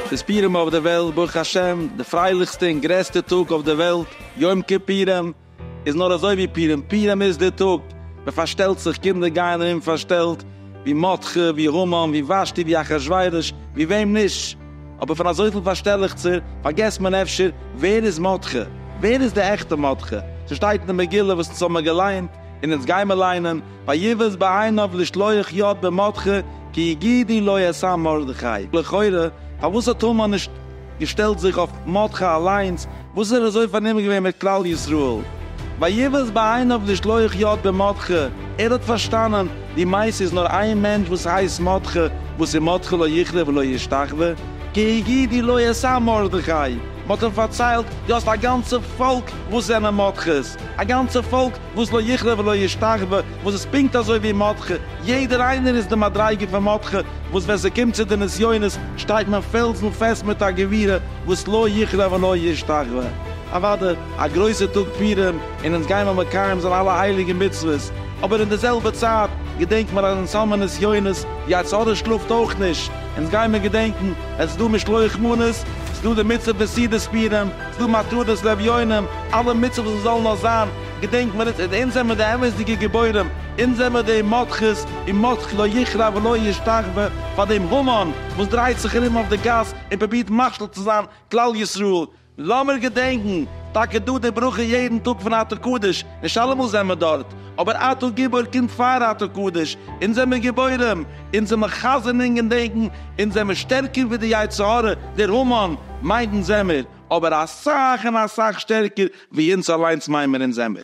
די פורים אויף דער וועלט, ברוך השם, די פרייליכסטע און גרעסטע טאג אויף דער וועלט, יום כיפורים, איז נאר אזוי ווי פורים, פורים איז די טאג, מען פארשטעלט זיך, קינדער גייען ארום פארשטעלט, ווי מרדכי, ווי המן, ווי ושתי, ווי אחשורוש, ווי וועם נישט. אבער פון אזויפיל פארשטעלעכצער פארגעסט מען אפשר ווער איז מרדכי? ווער איז די עכטע מרדכי? ס'שטייט אין די מגילה וואס אונז האמער געליינט און אונז גיימער ליינען, ויבס בעיניו לשלוח יד במרדכי כי יגידי לא אעשה מרדכי, לכאורה פארוואס האט המן נישט געשטעלט זיך אויף מרדכי אליינס, וואס איז ער אזוי פארנומען געווען מיט כלל ישראל? ויבעס בעיניו אויף די שלוח יד במרדכי, ער האט פארשטאנען די מעשה איז נאר איין מענטש וואס הייסט מרדכי וואס איז מרדכי לא יכרע ולא ישתחווה, כי הגידי לו עשה מרדכי, מען האט אים פארציילט דו האסט א גאנצע פאלק וואס זענען מרדכי'ס, א גאנצע פאלק וואס לא יכלה ולא ישתחוה, וואס איז פונקט אזוי ווי מרדכי, יעדער איינער איז די מדריגה פון מרדכי, וואס ווען ס'קומט צו די נסיונות שטייט מען פעלזן פעסט מיט א גבורה וואס לא יכלה ולא ישתחוה. אוואדע, א גרויסע טאג פורים, און אונז גייען מיר מקיים זיין אלע הייליגע מצוות, אבער אין די זעלבע צייט געדענקן מיר אז אונז האבן נסיונות, יצה ר שלאפט אויך נישט, אונז גייען מיר געדענקן, עס איז דא משלוח מנות, ס'איז דא די מצוה פון סעודת פורים, דו מטרות לאביונים, אלע מצוות וואס זאלן נאר זיין, געדענק מיר עס, און אונז זעמיר די אמת'דיגע גיבורים, אונז זעמיר די מותחות, און מותח לא יכרע ולא ישתחוה פאר דעם המון וואס דרייט זיך ארום אויף די גאס און פרובירט משפיל צו זיין כלל ישראל, לאמיר געדענקן, טאקע דא די ברכה יעדן טאג פון אתר קדוש, נישט אלעמאל זעמער דארט, אבער אתה גיבור קומט פאר אתה קדוש, אונז זעמער גיבורים, אונז זעמער חזר'נינג און דענקן, אונז זעמער שטערקער ווי די יצר הרע, דער המן, מיינט אונז זעמער, אבער אסאך און אסאך שטערקער ווי אונז אליינס מיין מיר אונז זעמער.